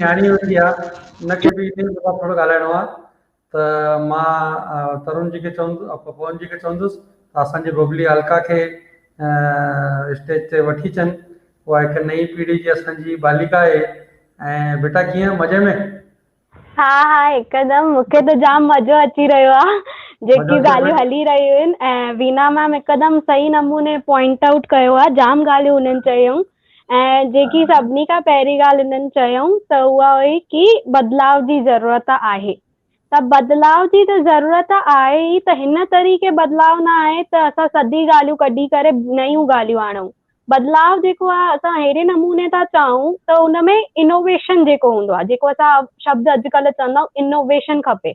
نياڻي ويٺي آ ان کي به انهي متان ٿورو ڳالهائڻو آ ته مان ترون جي کي چوندس پون جي کي چوندس ته اسان جي ببلي الڪا کي اسٽيج تي وٺي اچن اها هڪ نئين پيڙهي جي اسان جي باليڪا آهي ۽ بيٽا ڪيئن مزي ۾. ها ها هڪدم مون کي ته جام مزو اچي رهيو آ جيڪي ڳالهيون هلي رهيون آهن ۽ وينا ميم هڪدم صحيح نموني پوائنٽ آئوٽ ڪيو آ جام ڳالهيون هنن چيون ۽ جيڪي سڀني کان پهرين ڳالهه هنن چيائون ته اها هئي ڪي بدلاء جي ضرورت آهي ته بدلاء جي ته ضرورت آهي ئي ته هن طريقي بدلاء نه آهي ته اسان سڌي ڳالهيون ڪڍي ڪري نيون ڳالهيون آڻون بدلاء جيڪو آهي اسان اهڙي نموني ٿا چاهون ته ان ۾ انوويشن جيڪو هوندو آهي جيڪو اسان شبد اڄڪلهه چوندا آهيون انوويشن کپي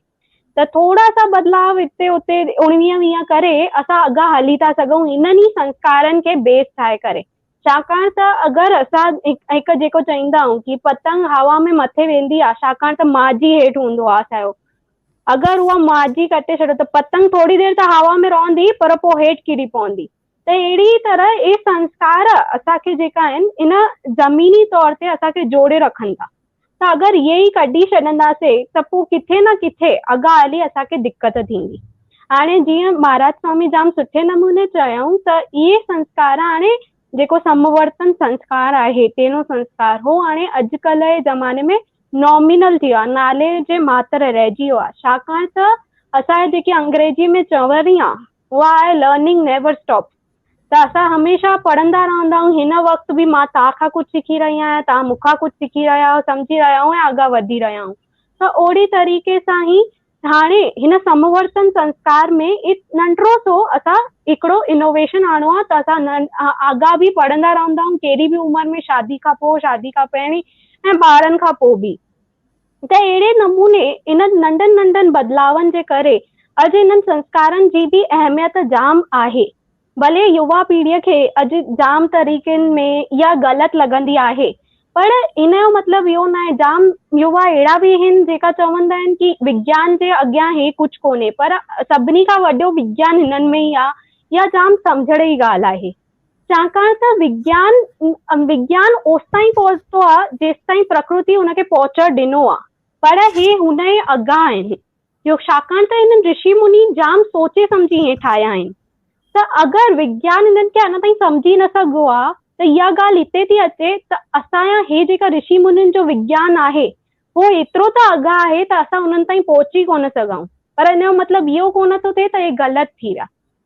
ته ٿورا سا بدلاء هتي اتي اڻويهه ويهه ڪري اسان اڳا هلي ٿا سگهون انهن ئي سنسڪارن کي بيس ٺاهي ڪري ڇاڪاڻ ته اگر اسان هڪ جيڪو چئيندا آهيون ڪي پتنگ هوا ۾ مٿي ويندي آهي ڇاڪاڻ ته ماضي هيٺ هوندو آهي اسانيو اگر اها ماضي ڪٽي ڇڏيو ته پتنگ ٿوري دير ته هوا ۾ رهندي پر پوء هيٺ ڪري پوندي ته اهڙي ئي طرح اهي سنسڪار اسان کي جيڪا آهن ان زميني طور تي اسان کي جوڙي رکن ٿا ته اگر اهي ئي ڪڍي ڇڏنداسين ته پوء ڪٿي نه ڪٿي اڳا هلي اسان کي دقت ٿيندي هاڻي جيئن مهاراج سوامي جام سٺي نموني چيائون ته اهي سنسڪار هاڻي جيڪو سمورتن سنسڪار آهي تينو سنسڪار هو هاڻي اڄڪلهه جي زماني ۾ نامينل ٿي ويو آهي نالي جي ماتر رهجي ويو آهي ڇاڪاڻ ته اسان جي جيڪي انگريزي ۾ چوڻي آهي اها آهي لرننگ نيور اسٽاپ ته اسان هميشه پڙهندا رهندا آهيون هن وقت به مان توهان کان ڪجهه سکي رهي آهيان توهان مون کان ڪجهه سکي رهيا آهيو سمجهي رهيا آهيون ۽ اڳا وڌي رهيا آهيون ته اوڙي طريقي سان هي هاڻي هن سمورتن سنسڪار ۾ ايت ننڍڙو سو اسان هڪڙو انوويشن آڻو آهي ته اسان آڳا به پڙهندا رهندا آهيون ڪهڙي به عمر ۾ شادي کان پوء شادي کان پهرين ۽ ٻارن کان پوء به ته اهڙي نموني انهن ننڍن ننڍن بدلاون جي ڪري اڄ انهن سنسڪارن جي به اهميت جام آهي. ڀلي يوا پيڙهيء کي اڄ جام طريقن ۾ اها غلط لڳندي آهي پر ان جو مطلب اهو ناهي جام يوا اهڙا به هن جيڪا چوندا آهن ڪي وگيان جي اڳيان هي ڪجهه ڪونهي پر سڀني کان وڏو وگيان هنن ۾ ئي آهي اها جام سمجهڙ جي ڳالهه آهي. ڇاڪاڻ ته وگيان وگيان اوستائين پهتو آهي جيستائين پرڪرتيء ان کي پهچڻ ڏنو آهي پر هي هن ئي اڳيان آهي جو ڇاڪاڻ ته هنن رشي مني جام سوچي سمجهي هي ٺاهيا آهن ته اگر وگيان هنن کي اڃا تائين سمجهي نه سگهيو آهي ته اها ڳالهه هتي ٿي اچي ته اسان يا هي جيڪا رشي منين جو وگيان آهي هو ايترو ته اڳيان آهي ته اسان انهن تائين پهچي ڪونه سگهون پر ان جو مطلب اهو ڪونه ٿو ٿئي ته هي غلط ٿي ويا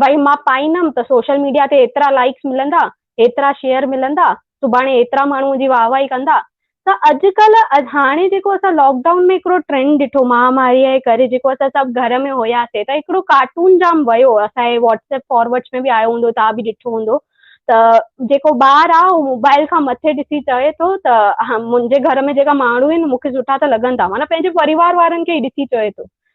ڀائي مان پائيندم ته سوشل ميڊيا تي ايترا لائيڪس ملندا، ايترا شيئر ملندا، سڀاڻي ايترا ماڻهو منهنجي واهه واهي ڪندا ته اڄڪلهه هاڻي جيڪو اسان لاڪ ڊائون ۾ هڪڙو ٽرينڊ ڏٺو مهاماريء جي ڪري جيڪو اسان سڀ گهر ۾ هياسين ته هڪڙو ڪارٽون جام ويو اسان جي واٽس ايپ فارورڊس ۾ به آيو هوندو توهان به ڏٺو هوندو ته جيڪو ٻار آ هو موبائل کان مٿي ڏسي چوي ٿو ته منهنجي گهر ۾ جيڪا ماڻهو آهن مون کي سٺا ته لڳندا معنيٰ پنهنجي پريوار وارن کي ئي ڏسي چوي ٿو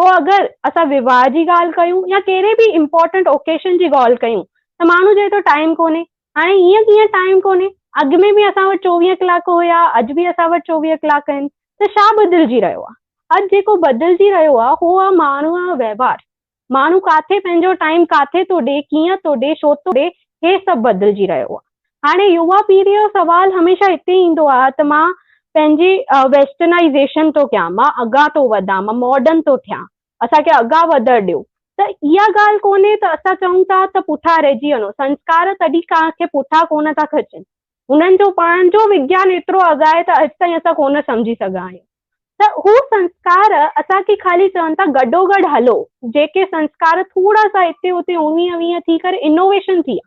پوء اگر اسان وواهه جي ڳالهه ڪيون يا ڪهڙي به امپورٽنٽ اوڪيشن جي ڳالهه ڪيون ته ماڻهو چئي ٿو ٽائيم ڪونهي. هاڻي ائين ڪيئن ٽائيم ڪونهي؟ اڳ ۾ به اسان وٽ چوويهه ڪلاڪ هيا، اڄ به اسان وٽ چوويهه ڪلاڪ آهن ته ڇا بدلجي رهيو آهي؟ اڄ جيڪو بدلجي رهيو آهي اهو آهي ماڻهوء جو وهنوار. ماڻهو ڪاٿي پنهنجو ٽائيم ڪاٿي ٿو ڏي، ڪيئن ٿو ڏي، ڇو ٿو ڏي، هي سڀ بدلجي رهيو آهي. هاڻي يووا پيڙهي جو سوال هميشه هتي ايندو آهي ته مان پنهنجي ويسٽرنائيزيشن ٿو ڪيان، مان اڳيان ٿو وڌان، مان ماڊرن ٿو ٿيان، اسان کي اڳيان وڌڻ ڏيو. ته اها ڳالهه ڪونهي ته اسان چئون ٿا ته پٺيان رهجي وڃو، سنسڪار تڏهن ڪنهن کي پٺيان ڪونه ٿا کچن، هنن جو پاڻ جو وگيان ايترو اڳ آهي ته اڄ تائين اسان ڪونه سمجهي سگهيا آهيون. ته هو سنسڪار اسان کي خالي چون ٿا گڏوگڏ هلو، جيڪي سنسڪار ٿورا سا هتي هتي اوڻويهه ويهه ٿي ڪري انوويشن ٿي آهي.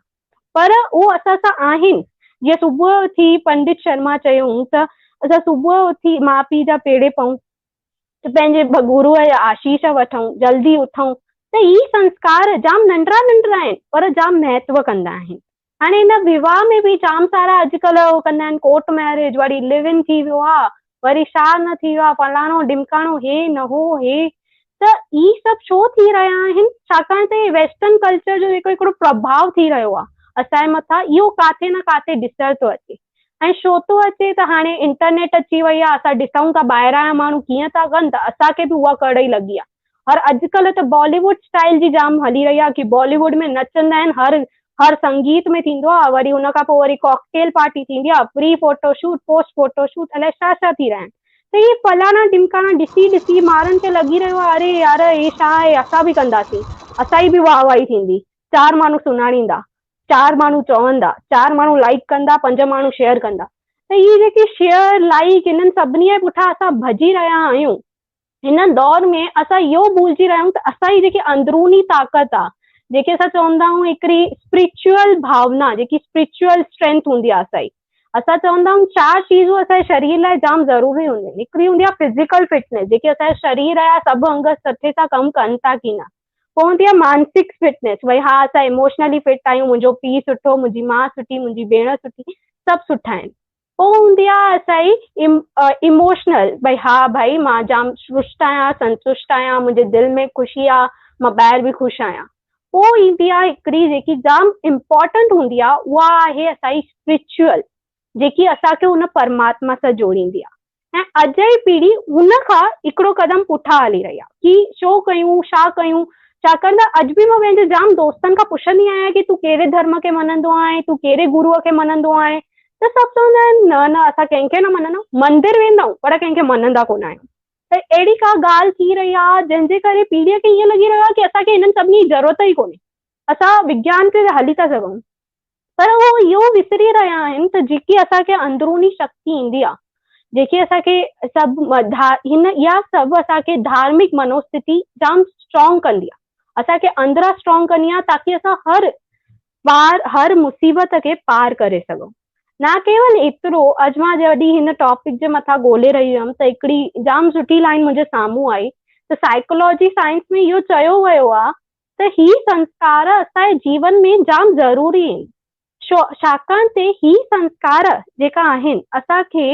پر هو اسان سان آهن. جيئن صبح اٿي پنڊت شرما چيو هون ته اسان صبح اٿي ماء پيء جا پيڙي پئون ته پنهنجي گروء جا آشيش وٺون، جلدي اٿون ته هي سنسڪار جام ننڍڙا ننڍڙا آهن پر جام مهتو ڪندا آهن. هاڻي هن ويواهه ۾ به جام سارا اڄڪلهه هو ڪندا آهن ڪورٽ مئريج وري لو ان ٿي ويو آهي وري شا نه ٿي ويو آ فلاڻو ڊمڪاڻو هي نه هو هي ته هي سڀ شو ٿي رهيا آهن ڇاڪاڻ ته هي ويسٽرن ڪلچر جو جيڪو هڪڙو پرڀاو ٿي رهيو آ اسان جي مٿان اهو ڪاٿي نه ڪاٿي ڏسڻ ٿو اچي ۽ شو ٿو اچي ته هاڻي انٽرنيٽ اچي وئي آ اسان ڏسون ٿا ٻاهران جا ماڻهو ڪيئن ٿا ڪن ته اسان کي به اها ڪڙئي لڳي آ. هر اڄ ڪلهه ته بالي ووڊ اسٽائيل جي جام هلي رهي آهي ڪي بالي ووڊ ۾ نچندا آهن هر هر سنگيت ۾ ٿيندو آهي وري ان کان پوء وري ڪاڪٽيل پارٽي ٿيندي آهي pre photo shoot post photo shoot الائي ڇا ڇا ٿي رهيا آهن ته هي فلاڻا ڊمڪاڻا ڏسي ڏسي مارن کي لڳي رهيو آهي اري يار هي ڇا آهي اسان به ڪنداسين اسان جي به واهه واهي ٿيندي چار ماڻهو سڃاڻيندا چار ماڻهو چوندا چار ماڻهو لائڪ ڪندا پنج ماڻهو شيئر ڪندا ته هي جيڪي شيئر لائڪ هنن سڀني جي پٺيان اسان ڀڄي رهيا آهيون هن دور ۾ اسان اهو ڀلجي رهيا آهيون ته اسان جي جيڪي اندروني طاقت آ جيڪي اسان چوندا آهيون هڪڙي اسپريچوئل ڀاونا جيڪي اسپريچوئل اسٽرينٿ هوندي آ اسان جي اسان چوندا آهيون چار چيزون اسان جي شرير لاء جام ضروري هونديون آهن هڪڙي هوندي آ فزيڪل فٽنيس جيڪي اسان جا شرير جا سڀ انگ سٺي سان ڪم ڪن ٿا ڪي نه پوء هوندي آ مانسڪ فٽنيس ڀئي ها اسان ايموشنلي فٽ آهيون منهنجو پيء سٺو منهنجي ماء سٺي منهنجي ڀيڻ سٺي سڀ سٺا آهن پوء هوندي آ اسائي ايموشنل ڀئي ها ڀائي مان جام شرشت آهيان سنتشت آهيان منهنجي دل ۾ خوشي آ مان ٻاهر به خوش آهيان پوء ايندي آ هڪڙي جيڪي جام امپورٽنٽ هوندي آ اها آهي اسائي اسپريچوئل جيڪي اسان کي ان پرماتما سان جوڙيندي آ ۽ اڄ جي پيڙهي ان کان هڪڙو قدم پٺا هلي رهي آهي ڪي ڇو ڪيون ڇا ڪيون ڇاڪاڻ ته اڄ به مان پنهنجي جام دوستن کان پڇندي آهيان ڪي تون ڪهڙي ڌرم کي مڃندو آهين تون ڪهڙي گروء کي مڃندو آهين ته سڀ چوندا آهن نه نه اسان ڪنهن کي نه مڃندا مندر ويندا آهيون پر ڪنهن کي مڃندا ڪونه آهيون ته اهڙي ڪا ڳالهه ٿي رهي آهي جنهن جي ڪري پيڙهي کي ائين لڳي رهيو آهي ڪي اسان کي هنن سڀني جي ضرورت ئي ڪونهي. اسان وگيان تي ته هلي ٿا سگهون پر هو اهو وسري رهيا آهن ته جيڪي اسان کي اندروني شڪتي ايندي آهي جيڪي اسان کي سڀ هن اها سڀ اسان کي ڌارمڪ منوستتي جام اسٽرانگ ڪندي آهي اسان کي اندران اسٽرانگ ڪندي آهي تاڪي اسان هر پار هر مصيبت کي پار ڪري سگهون نه ڪيول ايترو اڄ مان جڏهن هن ٽاپڪ جي مٿان ڳولي رهي هيم ته هڪڙي جام سٺي لائن منهنجي سامهون آئي ته سائيڪولوجي سائنس ۾ اهو چيو ويو آهي ته هي سنسڪار اسان جي جيون ۾ جام ضروري آهن ڇاڪاڻ ته هي سنسڪار جيڪا آهن اسان کي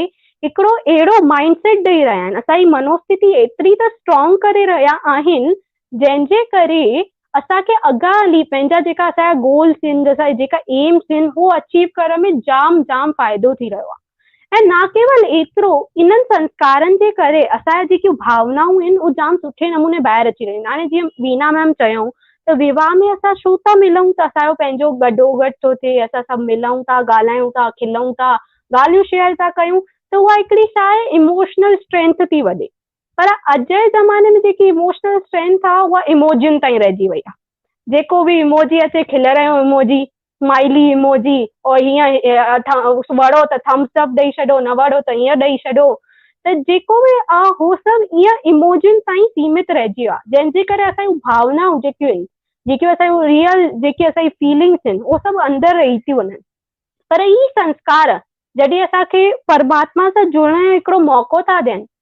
هڪڙو اهڙو مائنڊ سيٽ ڏئي رهيا آهن اسان جي منوستتي ايتري ته اسٽرانگ ڪري رهيا آهن جنهن جي ڪري اسان کي اڳيان هلي پنهنجا جيڪا اسان جا گولس آهن اسان جا جيڪا ايمس آهن هو اچيو ڪرڻ ۾ جام جام فائدو ٿي رهيو آهي. ۽ نه ڪيول ايترو انهن سنسڪارن جي ڪري اسان جا جيڪيون ڀاونائون آهن اهي جام سٺي نموني ٻاهر اچي رهيون آهن هاڻي جيئن وينا ميم چيائون ته ويواهه ۾ اسان ڇو ٿا ملون ته اسان جو پنهنجو گڏو گڏ ٿو ٿئي اسان سڀ ملون ٿا ڳالهايون ٿا کلون ٿا ڳالهيون شيئر ٿا ڪيون ته اها هڪڙي ڇا آهي ايموشنل اسٽرينٿ ٿي وڏي. پر اڄ جي زماني ۾ جيڪي اموشنل اسٽرينٿ آ اها اموجين تائين رهجي وئي آ جيڪو به اموجي اچي کل رهيو اموجي اسمائلي اموجي اور هيئن وڙو ته ٿمس اپ ڏئي ڇڏو نه وڙو ته هيئن ڏئي ڇڏو ته جيڪو به آ هو سڀ ايئن اموجين تائين سيمت رهجي ويو آ جنهن جي ڪري اسان جون ڀاونائون جيڪيون آهن جيڪيون اسان جون ريل جيڪي اسان جي فيلنگس آهن اهو سڀ اندر رهي ٿيون وڃن پر هي سنسڪار جڏهن اسان کي پرماتما سان جڙڻ جو هڪڙو موقعو ٿا ڏين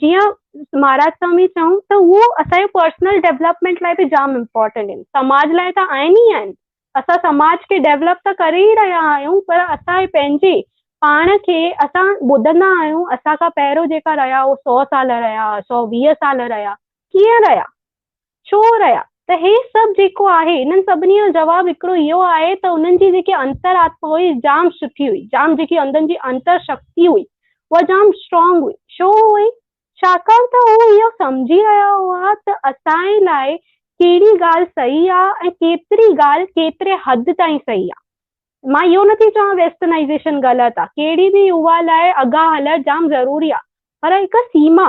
جيئن مھاراج سوامي چيائون ته اھو اسان جي پرسنل ڊيولپمينٽ لاء به جام امپورٽنٽ آھن سماج لاء ته آھن ئي آھن اسان سماج کي ڊيولپ ته ڪري ئي رھيا آھيون پر اسان پنھنجي پاڻ کي اسان ٻڌندا آھيون اسان کان پهريون جيڪا رھيا اھو سؤ سال رھيا سؤ ويهه سال رھيا ڪيئن رھيا ڇو رهيا ته هي سڀ جيڪو آهي انهن سڀني جو جواب هڪڙو اهو آهي ته انهن جي جيڪي انتر آتما هئي جام سٺي هئي جام جيڪي اندر جي انتر شڪتي هئي اها جام اسٽرانگ هئي ڇو هئي ڇاڪاڻ ته هو اهو سمجهي رهيا هئا ته اسانئي لاء ڪهڙي ڳالهه صحيح آهي ۽ ڪيتري ڳالهه ڪيتري حد تائين صحيح آهي مان اهو نٿي چوان ويسٽرنائيزيشن غلط آهي ڪهڙي به يووا لاء اڳها هلڻ جام ضروري آهي پر هڪ سيما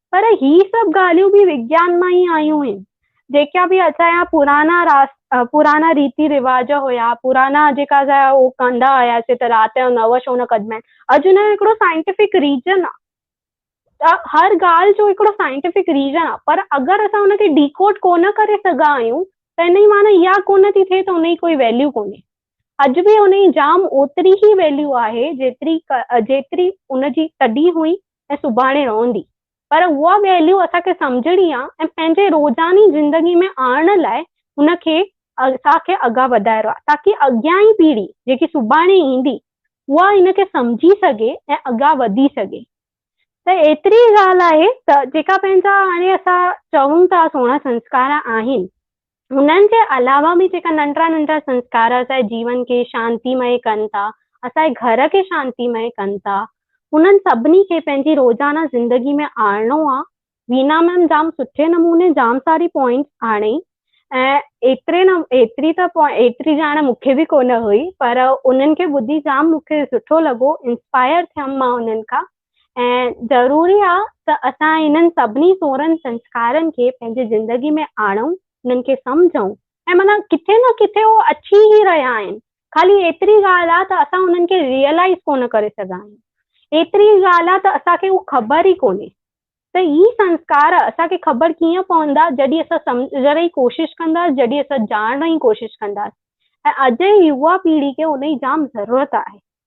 پر هي سڀ ڳالهيون به وگيان مان ئي آيون هين. جيڪا به اسان جا پرانا راس پرانا ريتي رواج هيا پرانا جيڪا اسان جا هو ڪندا هياسي ته رات جو نو شو نه ڪڍبا آهن اڄ ان جو هڪڙو سائنٽيفڪ ريزن آ ته هر ڳالهه جو هڪڙو سائنٽيفڪ ريزن آ پر اگر اسان ان کي ڊيڪوڊ ڪونه ڪري سگها آهيون ته ان جي معنيٰ اها ڪونه ٿي ٿئي ته ان جي ڪوئي ويليو ڪونهي اڄ به ان جي جام اوتري ئي ويليو آهي جيتري جيتري ان جي تڏهن هئي ۽ سڀاڻي رئندي پر اها ويليو اسان کي سمجهڻي آ ۽ پنهنجي روزاني زندگي ۾ آڻڻ لاء ان کي اسان کي اڳا وڌائرو آ تاڪي اڳيان ئي پيڙهي جيڪي سڀاڻي ايندي اها ان کي سمجهي سگهي ۽ اڳا وڌي سگهي ته ايتري ئي ڳالهه آهي ته جيڪا پنهنجا هاڻي اسان چئون ٿا سهڻا سنسڪار آهن انهن جي علاوه به جيڪا ننڍڙا ننڍڙا سنسڪار اسانجي جيون کي شانتيمئي ڪن ٿا، اسانجي گهر کي شانتيمئي ڪن ٿا، انهن سڀني کي پنهنجي روزانه زندگي ۾ آڻڻو آ. وينا ميم جام سٺي نموني جام ساري پوائنٽس آڻي ۽ ايتري نه ايتري ته ايتري ڄاڻ مون کي به ڪونه هئي پر انهن کي ٻڌي جام مون کي سٺو لڳو انسپائر ٿيم مان انهن کان ۽ ضروري آ ته اسان انهن سڀني سورن سنسڪارن کي پنهنجي زندگي ۾ آڻون، انهن کي سمجهون. ۽ معنيٰ ڪٿي نه ڪٿي هو اچي ئي رهيا آهن، خالي ايتري ڳالهه آ ته اسان انهن کي ريئلائيز ڪونه ڪري سگهيا آهيون. ايتري ئي ڳالهه آ ته اسان کي هو خبر ئي ڪونهي ته هي سنسڪار اسان کي خبر ڪيئن پوندا جڏهن اسان سمجهڻ جي ڪوشش ڪنداس، جڏهن اسان ڄاڻڻ جي ڪوشش ڪنداس ۽ اڄ جي يوا پيڙهي کي ان جي جام ضرورت آهي.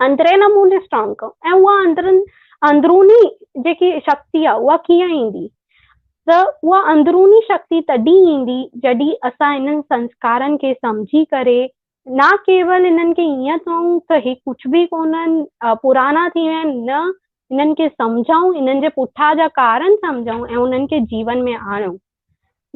اندرين نموني اسٽرانگ ڪيون ۽ اها اندرين اندروني جيڪي شڪتي آهي اها ڪيئن ايندي ته اها اندروني شڪتي تڏهن ايندي جڏهن اسان انهن سنسڪارن کي سمجهي ڪري نه ڪيول انهن کي ائين چئون ته هي ڪجهه به ڪونهن پرانا ٿي ويا آهن نه انهن کي سمجهائون انهن جي پٺا جا ڪارن سمجهائون ۽ انهن کي جيون ۾ آڻيون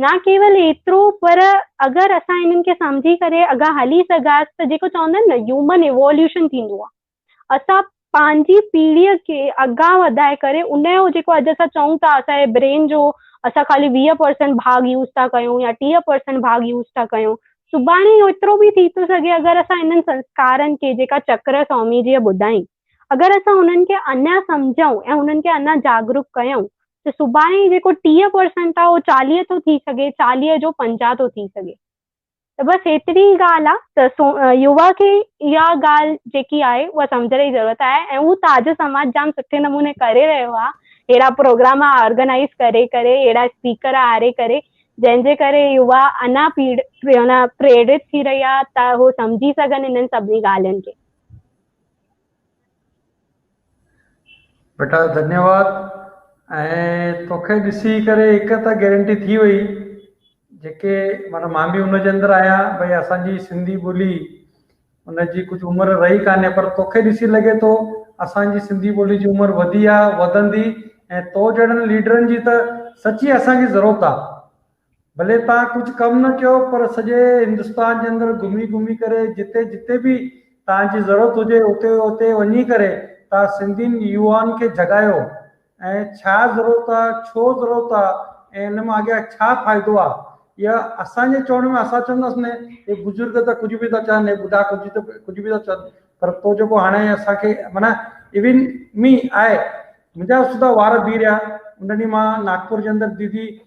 نه ڪيول ايترو پر اگر اسان انهن کي سمجهي ڪري اگها هلي سگهاس ته جيڪو چوندا آهن نه هيومن ايووليوشن ٿيندو آهي اسان پنهنجي پيڙهي کي اگها وڌائي ڪري ان جو جيڪو اڄ اسان چئون ٿا اسان جي برين جو اسان خالي ويهه پرسنٽ ڀاڳ يوز ٿا ڪيون يا ٽيهه پرسنٽ ڀاڳ يوز ٿا ڪيون سڀاڻي ايترو به ٿي ٿو سگهي اگر اسان انهن سنسڪارن کي جيڪا چڪر سوامي جيء ٻڌائين اگر اسان انهن کي اڃا سمجهون ۽ انهن کي اڃا جاگروڪ ڪيون ته سڀاڻي جيڪو ٽيهه پرسنٽ آهي اهو چاليهه ٿو ٿي سگهي چاليهه جو پنجاهه ٿو ٿي سگهي ته بس هيتري ئي ڳالهه آهي ته سو يووا کي اها ڳالهه جيڪي آهي اها سمجهڻ جي ضرورت آهي ۽ اهو تاج سماج جام سٺي نموني ڪري رهيو آهي اهڙا پروگرام آرگنائز ڪري ڪري اهڙا اسپيڪر آري ڪري جنهن جي ڪري يووا انا پيڙ پريرت ٿي رهي آهي ته هو سمجهي سگهن انهن سڀني ڳالهين کي بيٽا ڌنيواد ۽ توکي ڏسي ڪري هڪ ته گيرنٽي ٿي وئي جيڪي معنيٰ مان به ان جي اندر آهيان ڀئي اسانجي سنڌي ٻولي ان جي ڪجهه عمر رهي ڪانهي پر توکي ڏسي لڳي ٿو اسانجي سنڌي ٻولي جي عمر وڌي آهي وڌندي ۽ تو جهڙن ليڊرن جي ته سچي اسانکي ضرورت آهي ڀلي تان ڪجهه ڪم نه ڪيو پر سڄي هندستان جي اندر گهمي گهمي ڪري جتي جتي به تان جي ضرورت هجي اتي اتي وڃي ڪري تان سنڌين يوان کي جڳايو ۽ ڇا ضرورت آ ڇو ضرورت آ ۽ ان مان اڳيان ڇا فائدو آ يا اسان جي چوڻ ۾ اسان چونداس نه هي بزرگ ته ڪجهه به ٿا چون هي ٻڍا ڪجهه ته ڪجهه به ٿا چون پر تو جيڪو هاڻي اسان کي معنيٰ ايون مي آء منهنجا سڌا وار بيهه رهيا ان ڏينهن مان ناگپور جي اندر ديدي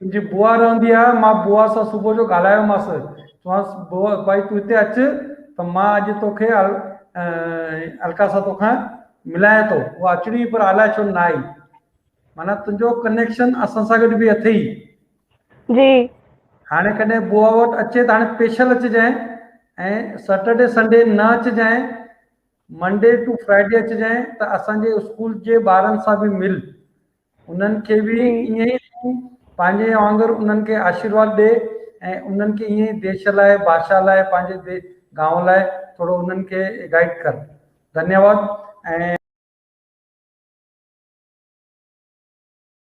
منهنجي بوا رهندي آهي، مان بوا سان صبح جو ڳالهايومانس، چيومانس، بوا ڀائي تون هتي اچ ته مان اڄ توکي الڪا سان توکان ملايان ٿو. اها اچڻي هئي پر الاء ڇو نه آئي. معنيٰ تنهنجو ڪنيڪشن اسان سان گڏ به اٿئي. جي. هاڻي ڪڏهن بوا وٽ اچي ته هاڻي پيشل اچجانء ۽ سيٽرڊي سنڊي نه اچجانء، منڊي ٽو فرائيڊي اچجانء ته اسان جي اسڪول جي ٻارن سان به مل. انهن کي به ائين ئي تون پنهنجي وانگر انهن کي آشيرواد ڏي ۽ انهن کي ائين ئي ديش لاء، ڀاشا لاء، پنهنجي گانء لاء ٿورو انهن کي گائيڊ ڪر. ڌنيواد ۽.